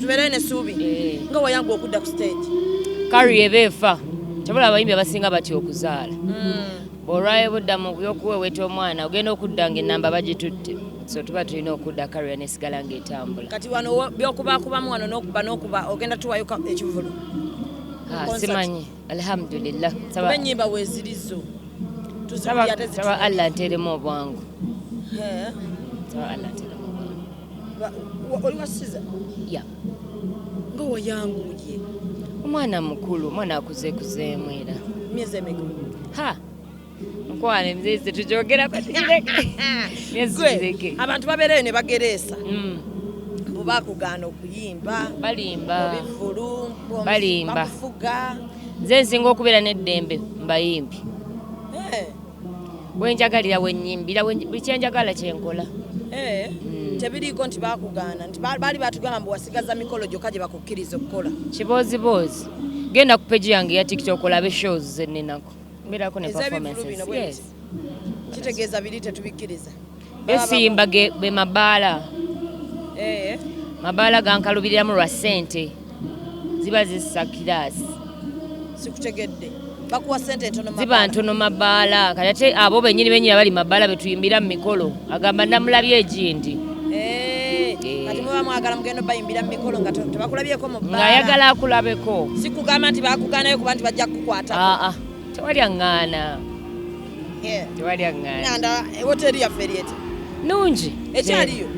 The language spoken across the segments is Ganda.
tubeere nesuubi eh. nga wayanga okudda ku stage kari eba efa kyabula abayimbi abasinga batya okuzaala hmm. olwaye budda mu byokuweweta omwana ogenda okudda nga enamba bagitutte so tuba tulina okudda kariya nesigala nga etambula kati wano byokubakubamu wano nokuba nokuba ogenda tuwayo ekivulu ah, simanyi alhamdulillah enyimba wezirizo tuzaa allah nteremu obwangu oli wa siza ya nga wayanguye omwana mukulu omwana akuze kuzeemu era myezi emeka ha mukwano emyezi tetugyogerako tugireke myezi tugireke abantu babeereyo ne bagereesa mm. bakugaana okuyimba balimba mubivulu balimba bakufuga nze nsinga okubeera n'eddembe mbayimbi eh. wenjagalira wenyimbira buli kyenjagala kyenkola eh, hmm. tebiriiko nti bakugaana nti baali batugamba mbu wasigaza mikolo gyokka gye bakukkiriza okukola kibooziboozi genda ku peji yange ya tiktok olabe shows zeninako mbeerako ne performances kitegeeza biri tetubikkiriza besimba ge be mabaala eh. mabaala gankalubiriramu lwa sente ziba zissa kiraasi sikutegedde bakuwa sente ntono ziba ntono mabaala kati ate abo benyini benyini abali mabaala betuyimbira mu mikolo agamba namulabye egindi eh, eh. kati muba mwagala mugenda bayimbira mu mikolo nga tebakulabyeko mu bbaala ng'ayagala akulabeko sikugamba nti bakuganayo kuba nti bajja kukukwatako aa ah, ah. tewali aŋŋaana tewaliaŋŋanda eh, woteri yaffe eryeti nungi ekyaliyo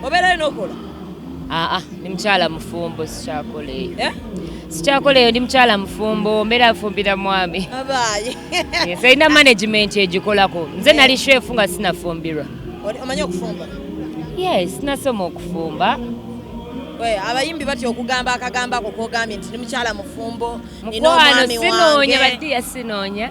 obeerayo nokola aa ah, ndi ah, mukyala mufumbo sikyakola eyo eh? sikyakola eyo ndi mukyala mufumbo mbeera afumbira mwami serina management egikolako nze nali eh. shefu nga sinafumbirwa omanyi okufumba yes nasoma okufumba abayimbi batya okugamba akagambo ako kogambye nti ndi mukyala mufumbo mukwano sinoonya badiya sinoonya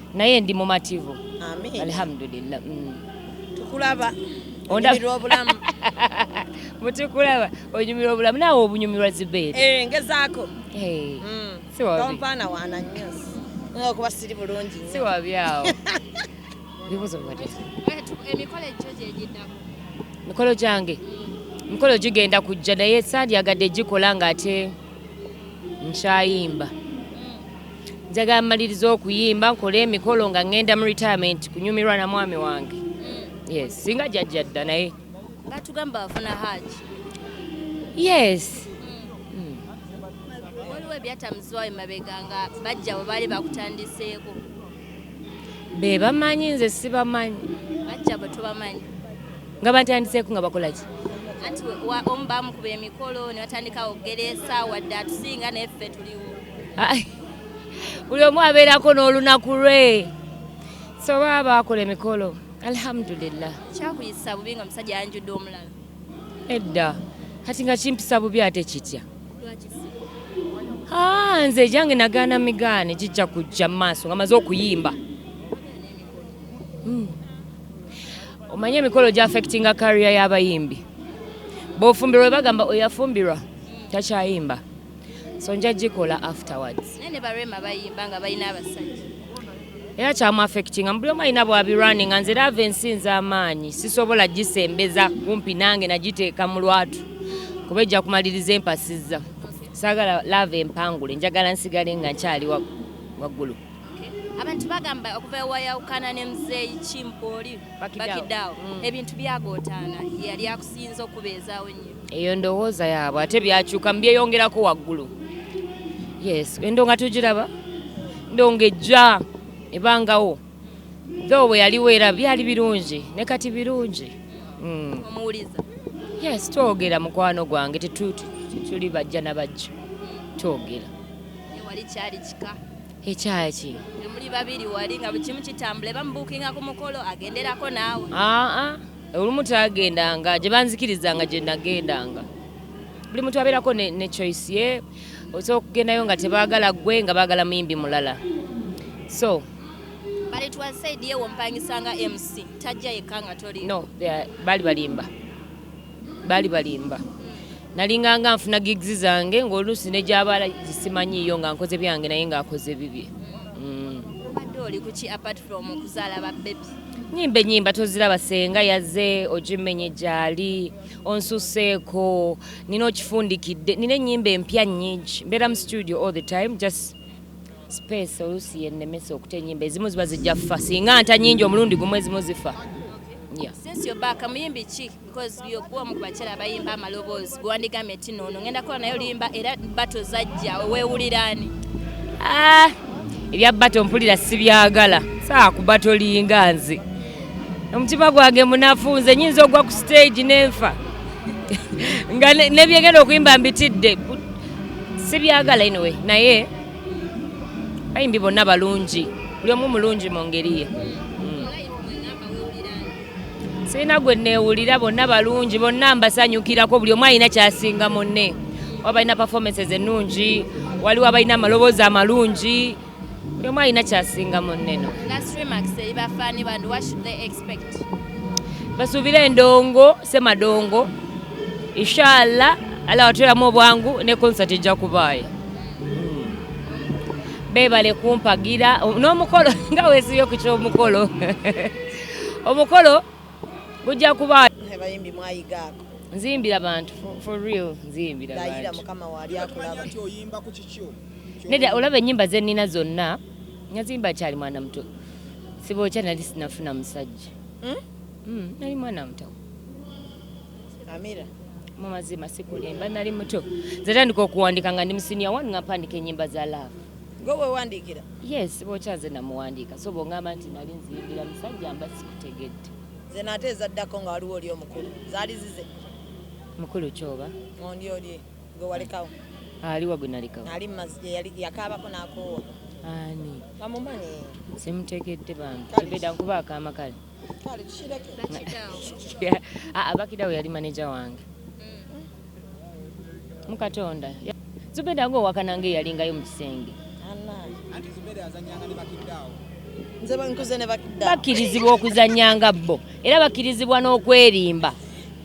naye ndi mumativu alhamdulillah mm. tukulaba onyumirwa obulamu mutukulaba onyumirwa obulamu naawe obunyumirwa zibeere eh, ngezaako eh, mm. siwampaana waana nnyo okuba siri bulungi si wabyawo bibuzo emikolo egyo gyegiddamu mikolo gyange mikolo gigenda kujja naye sandyagadde gikola ng'ate nkyayimba njagala maliriza okuyimba nkole emikolo nga ngenda mu retirement kunyumirwa na mwami wange mm. yes singa jajja dda naye batugamba bafuna haji yes mm. Mm. waliwo ebyatamuzibwa emabega nga bajja bwe baali bakutandiseeko be bamanyi nze sibamanyi bajja bwe tubamanyi nga batandiseeko nga bakola ki anti omu bamukuba emikolo ne batandika okugera esaawa dde atusinga naye ffe tuliwo buli omu abeerako n'olunaku lwe so baba baakola emikolo alhamdulillah kyakuyisa bubi nga omusajja yanjudde omulala edda kati nga kimpisa bubi ate kitya ah, nze ejange nagaana migaane gijja kujja mu maaso nga maze okuyimba hmm. omanye emikolo gyafectinga kariya y'abayimbi bofumbirwa bagamba oyafumbirwa takyayimba so nja gikola afterwards naye ne barema bayimba nga balina abasajja era kyamu affectinga mubuli omu alina bwabirwani nga nze raava ensi nze amaanyi sisobola gisembeza kumpi nange nagiteeka mu lwatu kuba ejja kumaliriza empasizza saagala laava empangule njagala nsigale nga nkyali waggulu abantu bagamba okuva ewayawukana ne muzeeyi kimpooli bakidaawo mm. ebintu byagootaana yali akusinza okubeezaawo nnyo eyo ndowooza yaabwe ate byakyuka mubyeyongerako waggulu yes endo nga tugiraba ndo nga ejja ebangawo tho bwe yaliwo era byali birungi ne kati birungi hmm. omuwuliza yes twogera mukwano gwange tetuli bajja na bajja twogera wali kyali kika ekyaki muli babiri wali nga bukimu kitambula ebamubuukinga ku mukolo agenderako naawe aa ah, ah. olumu tagendanga gye banzikirizanga gye nagendanga buli muntu abeerako ne, ne choice ye osobola okugendayo nga tebaagala gwe nga baagala muyimbi mulala so but it was said yewo mpangisanga mc tajja yekka nga toli no baali balimba baali balimba nalinganga nfuna gigs zange ng'oluusi ne gy'abaala gisimanyiiyo nga nkoze byange naye ng'akoze bibye mm. nyimba enyimba toziraba senga yaze ogimenye gyali onsuseeko nina okifundikidde nina enyimba empya nyingi mbeera mu studio all the time just space oluusi yennemesa okuta enyimba ezimu ziba zijja ffa singa nta nyingi omulundi gumu ezimu zifa yeah. Since you're back, because gwe omu ku bakyala abayimba amaloboozi gwe wandigambye nti noono ngenda kukola naye oluyimba era bato zajja weewuliraani ah, ebya bato mpulira sibyagala saa ku bato linga nze omutima gwange munafu nze nyinza ogwa ku stage nenfa nga nebyegenda okuyimba mbitidde sibyagala inowe naye bayimbi bonna balungi buli omu mulungi mu ngeri ye sirina gwe neewulira bonna balungi bonna mbasanyukirako buli omu alina kyasinga munne waba balina performances ennungi waliwo abalina amaloboozi amalungi buli omu alina kyasinga munneno basuubire endongo semadongo inshallah ala watulamu obwangu ne concert ejja kubaayo bebale kumpagira n'omukolo nga wesiyo ku ky'omukolo omukolo gujja kuba abayimbi mwayiga ako nzimbira bantu for real nzimbira bantu mukama wali akulaba nti oyimba ku kikyo neda olaba enyimba ze nina zonna nyazimba kyali mwana muto sibo kya nali sinafuna musajja hmm? Hmm, nali mwana muto amira mu mazima sikulimba nali muto nze tandika okuwandika nga ndi musinia wanu nga mpandika enyimba za love Gwe wewandiikira? Yes, bwokya nze namuwandiika so bwongamba nti nali nziyingira musajja mba sikutegedde. Nze naate ezaddako nga waliwo oli omukulu zaali zize. Mukulu kyoba? Ondi oli gwe walekawo. Aliwa gwe nalekawo? Ali mumazi yakaabako n'akoowa. Ani? Bamumanyi. Simutegedde bambi. Kibeda nkuba akaama kale. Ah, ah, bakidawo yali maneja wange mm. mukatonda zubeda nga owakananga eyalingayo mu kisenge bakirizibwa okuzanyanga bo era bakirizibwa n'okwerimba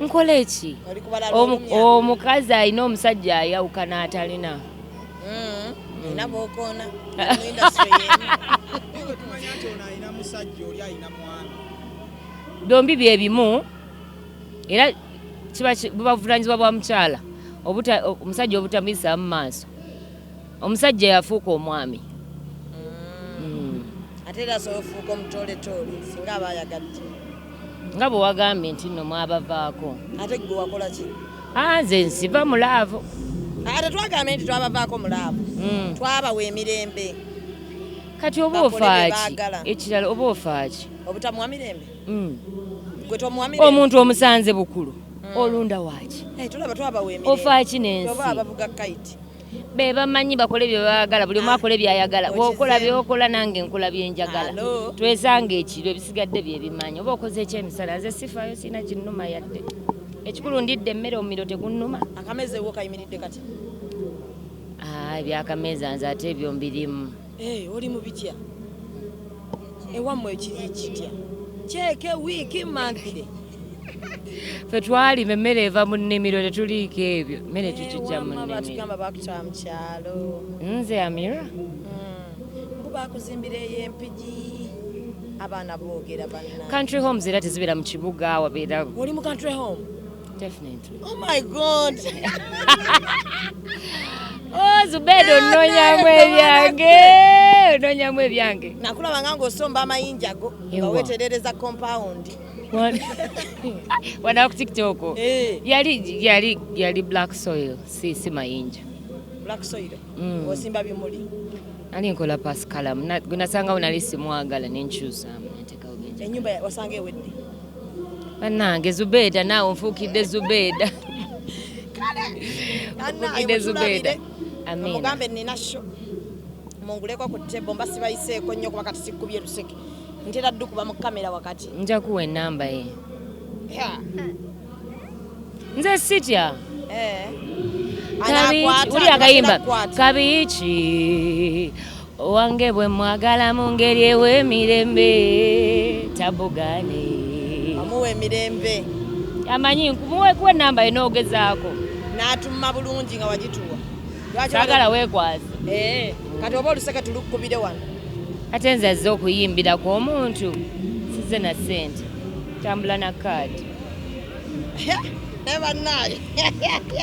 nkola eki omukazi alina omusajja ayawukana atalina hmm, alina bokoona byombi byebimu era kiba bubavunanyizibwa bwa mukyala omusajja obutamuyisaamu maaso Omusajja yafuuka omwami mm. Mm. ate era asobola ofuuka omutoletoole singa aba ayagadde nga bwe wagambye nti nno mwabavaako ate gwe wakola ki ah, nze nsiva mu laavu ah, ate twagambye nti twabavaako mu laavu mm. twabawa emirembe kati oba ofaaki ekirala oba ofaaki obutamuwa mirembe omuntu omusanze bukulu olunda waaki ofaaki nensi bebamanyi bakole byebagala buli omu ah, akole byayagala bwokola byokola nange nkola byenjagala twesanga ekiro ebisigadde byebimanyi oba okoze ekyemisala nze sifayo sirina kinnuma yadde ekikulu ndidde emmere omumiro tegunnuma akamezewo kayimiridde kati ah, ebyakameeza nze ate ebyo mbirimu Eh, oli mu bitya ewammwe ekiri kitya kyeke wiiki manthire fe twali emmere eva mu nnimiro tetuliiko ebyo emmere eh, tukijja mu nnimirobatugamba bakuta mukyalo nze amira hmm. bakuzimbira eyo empigi abaana boogera banna country homes era tezibeera mu kibuga wabeera oli mu country home Definitely. Oh my God. oh, Zubedo ononyamu ebyange ononyamu ebyange nakulabanga ng'osomba amayinja go nga weterereza compound wanaku tiktok eh. yali yali yali black soil si si mayinja black soil mm. osimba bimuli ali nkola pasikalamu gwenasangawo nali simwagala nenkyusamu enyumba wasanga ewedde banange zubeda naawe nfuukidde zubeda nfuukidde zubeda mugambe nina sho munguleko ku tebo mba sibayiseeko nnyo kuba kati sikkubye luseke ntera ddu kuba mu kamera wakati nja kuwa enamba ye nze sitya eh. uli akayimba kabiiki owange bwe mwagala mu ngeri ew'emirembe tabugaane amuwa emirembe amanyi nkumuweekuwa enamba ye n'ogezaako n'atumma bulungi nga wagituwa sagala weekwaze eh, kati oba oluseke tulukubire wano ate nze azze okuyimbiraku omuntu size na ssente tambula na kaadi naye bannaayo